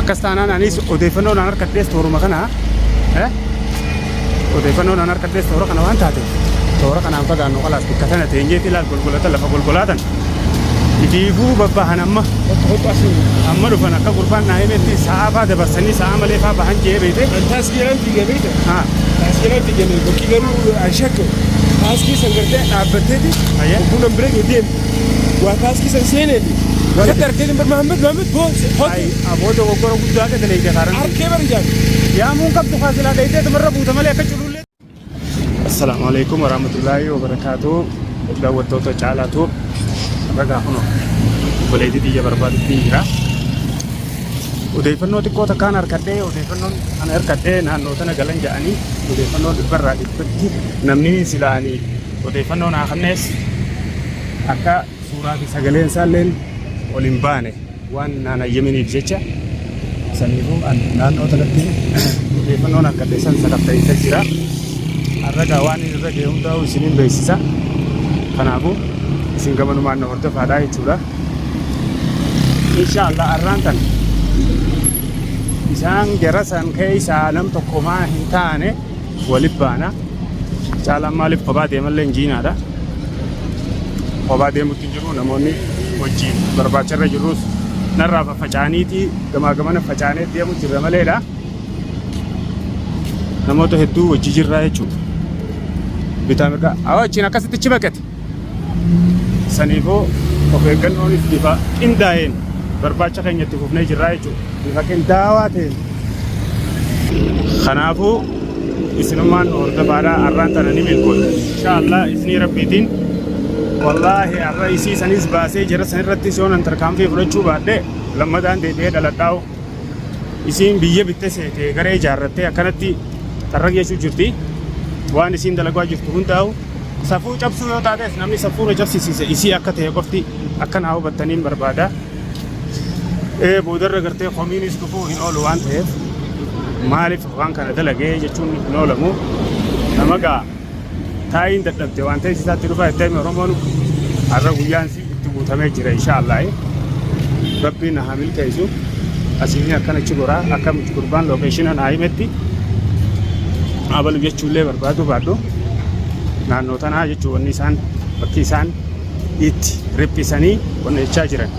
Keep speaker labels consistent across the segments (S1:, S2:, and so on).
S1: akkas taanaan anis odeeffannoo naan harkadhees tooruma kana eh? odeeffannoo naan harkadhees toora kana waan taate toora kanaan fagaannu qalaas bakka sana teenyeeti ilaal golgolata lafa golgolaatan itiifuu babbahan amma amma dhufan akka gurbaan naa himetti sa'aa faa dabarsanii sa'aa malee faa bahan jee beete Taaskeelaan diigamee
S2: dha. haa Taaskeelaan diigamee bakki garuu an shakka. Taaskee san gartee dhaabbatteeti. Ayyee. Buna bira deemte. Waa kaaskiisa hin seeneeti. Waan akka argee hin barmaamne Maammed boo hoji. Aboo
S1: dogoggora guddaa akka daleeyda kaaran. Arkee bari jaan.
S2: Yaamuun qabdu
S1: kaasilaa dheeytee tumarra buuta malee akka culullee. Assalaamu alaikum warahmatullaahi wabarakaatuh. Daawwattoota caalaa tuub. Ragaa kuno. Obboleetii biyya barbaadutti jira. Odeeffannoo xiqqoo takkaan harkadhee odeeffannoon kan harkadhee naannoo sana galan ja'anii odeeffannoo dhibbarraa dhibbatti namni silaanii Odeeffannoo naa kennees akka suuraa fi sagaleen isaa illee ol hin baane waan naan hayyaminiif jecha saniifuu an naannoo sanatti odeeffannoon argadhe san sakatta'insa jira. Arraga waan inni irra ga'e hundaa'uu isiniin beeksisa. Kanaafuu isin gamanumaan na hordofaadhaa jechuudha. Inshaallah arraan tan isaan jara san keessaa nam tokko maa hin taane Wali baana. Caalaan maaliif kophaa deemallee hin jiinaadha. Kophaa deemutti hin jiru namoonni wajjin barbaacharra jirrus narraa faffacaaniitii gamaa gamana facaanee deemu jirra maleedha. Namoota hedduu wajji jirraa jechuudha. Bitaa mirgaa. Awwa achiin akkasitti achi baqate. Saniifoo of eeggannoon bifa qindaa'een barbaacha keenya itti fufnee jirraa jechuudha. Bifa qindaawaa ta'een. Kanaafuu isinummaan nu hordofaadhaa har'aan tana ni milkoofna. Inshaallah isinii rabbiitiin wallaahi har'a isii sanis baasee jara sanirratti soonan tarkaanfii fudhachuu baadhee lammataan deebi'ee dhaladhaa'u. isiin biyya bitte seete garee ijaarrattee akkanatti xarraq jechuu jirti waan isiin dalagaa jirtu hundaa'u safuu cabsuu yoo taates namni safuura cabsisiise isii akka ta'e qofti akka naa hubattaniin barbaada ee boodarra gartee komiinis dhufuu hin oolu waan ta'eef maaliif waan kana dalagee jechuun hin oolamu nama ga'a Taayiin dadhabde waan ta'eef isaatti dhufaa itti hime Oromoon har'a guyyaan si itti guutamee jira inshaallah. Rabbiin haa milkeessu. Asiin akkana achi goraa akkamitti gurbaan lookeeshinaan haa himetti abalu jechuullee barbaadu baadhu naannoo tanaa jechuun wanni isaan bakki isaan itti riphisanii wanni jechaa jiran.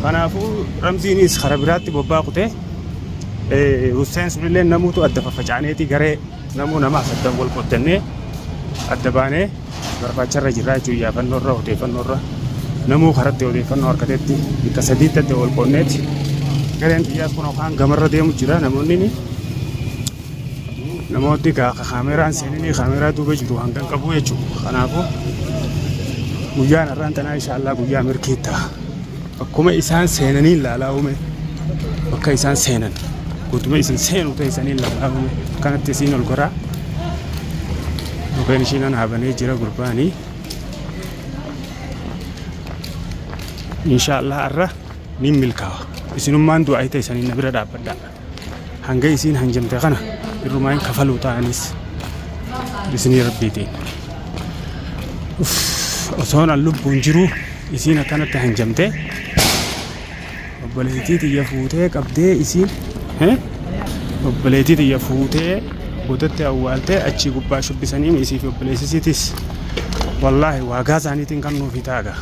S1: Kanaafuu ramziinis karaa biraatti bobbaa kutee Husseen sunillee namuutu adda faffacaaneeti garee Namuu nama asaddan wal qooddannee adda baanee barbaacharra jirra jechuun iyyaafannoo irra odeeffannoo irra namuu karatti odeeffannoo argatetti bakka sadiitti adda wal qoodneeti gareen xiyyaas kun kaan gamarra deemu jira namoonni ni namooti gaa ka kaameeraan seeninii kaameeraa duuba jiru hangan qabu jechuudha kanaafuu guyyaan irraan tanaa inshaallah guyyaa mirkii ta'a. Bakkuma isaan seenaniin laalaa uume bakka isaan seenan guutuma isin seenu teessanii laalaa uume kanatti isiin ol goraa mukkeen ishiin anaabanee jira gurbaanii inshaallah arra niin milkaawa isinummaan du'aa teessanii na bira dhaabbadhaa hanga isiin hanjamte kana irrumaa hin kafaluu ta'anis bisinii rabbiitiin osoon an lubbuun jiruu isiin akkanatti hanjamte obboleettii tiyya fuutee qabdee isiin obboleettii tiyya fuutee boodatti awwaaltee achii gubbaa shubbisaniin isiif obboleessisiitis wallaahi waagaa isaaniitiin kan nuufi taaga.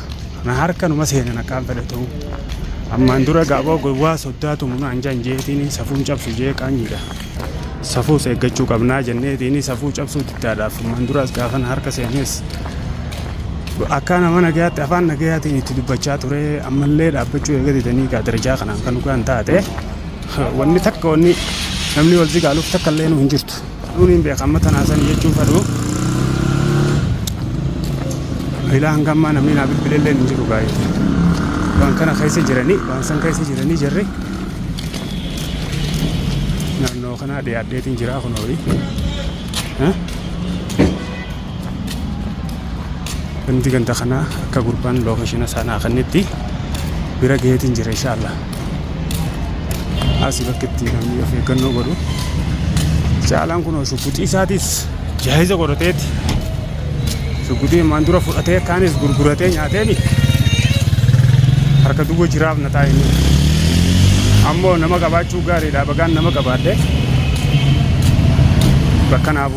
S1: Na harka numa seenan akkaan fedhatuu. Ammaan dura gaaboo gowwaa soddaa tumu naan janjeetiin safuun cabsu jee qaanyiidha. Safuus eeggachuu qabnaa jenneetiin safuu cabsuu diddaadhaaf ammaan duraas gaafa na harka seenes akkaa nama nagayaatti afaan nagayaatiin itti dubbachaa ture ammallee dhaabbachuu eega didanii gaa darajaa kanaan kan dhugaan taate wanni takka wanni namni wal zigaaluuf takka illee nu hin jirtu. Duun hin beeka amma tanaa sanii jechuu fadhu. Ilaa hanga ammaa namni naa bilbile illee hin jiru gaa'ee. Waan kana keessa jiranii waan san keessa jiranii jirri. Naannoo kanaa dhiyaadheetiin jiraa kun horii. Namti ganda kana akka gurbaan location isaa naa kennetti bira gaheetiin jira inshallah. Asi bakka itti namni of eeggannoo godhu. Caalaan kun shugguxii isaatis jaahiza godhateeti. Shugguxii ammaan dura fudhatee kaanis gurguratee nyaateeni harka duwwa jiraaf na taa'e. Ammoo nama qabaachuu gaariidha bagaan nama qabaadhe. Bakka naaf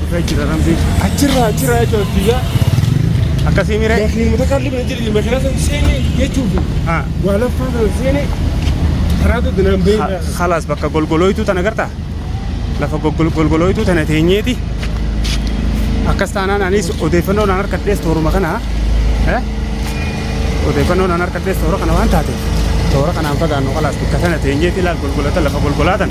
S2: Dhugaa jira rambii.
S1: Achirraa achirraa
S2: jechuudha biyyaa. Akkasii
S1: miree. Lafni mutakalli bira jedhani
S2: makiinaa sana seene jechuudha. Haa. Waa laffaa sana seene karaa tokko naan bahee Ha- jira. Halaas bakka golgolooytuu
S1: tana gartaa? Lafa golgol- golgolooytuu tana teenyeeti. Akkas taanaan anis odeeffannoo naan harkadhees tooruma kana. eh? Odeeffannoo naan harkadhees toora kana waan taateef toora kanaan fagaannu halaas bakka sana teenyeeti ilaal golgolata lafa golgolaatan.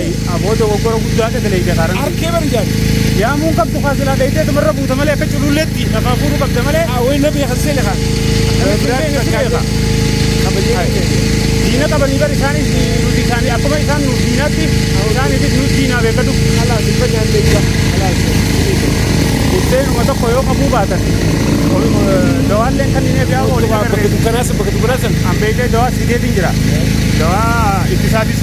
S2: Aboo dogoggora
S1: guddaadha daleeyda kaaraan. Arkee bari jaani.
S2: Yaamuun qabdu
S1: kaasilaa dheeytee tumarra buuta malee akka cululleetti lafaa fuudhuu qabda malee. Awwee na beeka seene kaa. Diina qabanii bari isaanis nuti isaanii akkuma isaan nu diinaatti isaaniifis nu diinaa beekatu. Alaas ifa nyaatee
S2: jira. Alaas.
S1: Buddeenuma tokko yoo qabuu baatan dawaalleen kan inni biyaa oolu. Bakka dukkanaasa bakka
S2: dukkanaasa. Ambeeytee dawaa
S1: sideetiin jira. Dawaa ittisaatis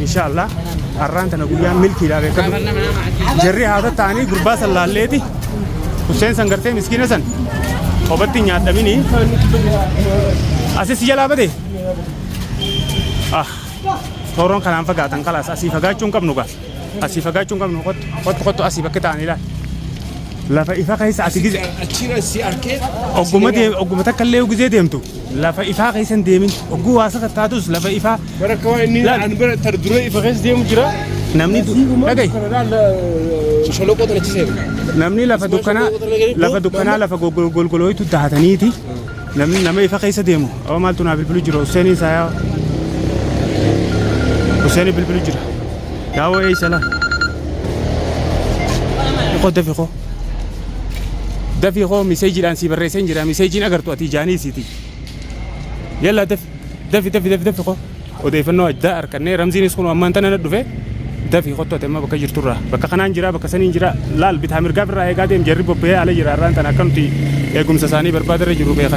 S1: Inshaallah arraan tana guyyaan milkiidhaa beekadhu. Jarri haasa ta'anii gurbaa san laalleeti. Hussein san gartee miskiina san qofatti hin nyaadhamini. Asis jalaa bade. Ah, tooroon kanaan fagaatan kalaas asii fagaachuu hin qabnu gaa. Asii fagaachuu hin qabnu kottu kottu kottu asii bakka ta'anii ilaali. Lafa ifa keessa asii gizee. Achira si arkee.
S2: Ogguma deem ogguma
S1: takka illee gizee deemtu. lafa ifaa keessa hin deemin ogguu
S2: waa
S1: sakattaatus lafa
S2: ifaa Bara akka
S1: waan
S2: inni Laal. an
S1: bira
S2: tar
S1: duree
S2: ifa keessa
S1: deemu
S2: jira. namni
S1: du- dhagahi Sholoqoo tana achi
S2: seena. namni lafa
S1: dukkanaa lafa dukkanaa lafa gogol- golgolooytu dahataniiti namni nama ifa keessa deemu amma maaltu naa bilbilu jira Husseeniin saayaa Husseeniin bilbilu jira yaawoo eeysa laa qodda fiqoo Dafi koo miseejiidhaan sii barreesseen jira miseejiin agartu ati ijaanii isiiti. Yalla dafi dafi dafi dafi dafi koo odeeffannoo addaa harkannee ramziinis kun ammaan tana na dhufe dafi kottu ati amma bakka jirturraa bakka kanaan jira bakka saniin jira laal bitaa mirgaa birraa eegaa deem jarri bobba'ee ala jira irraan tana akkamti eegumsa isaanii barbaadarra jiru beekan.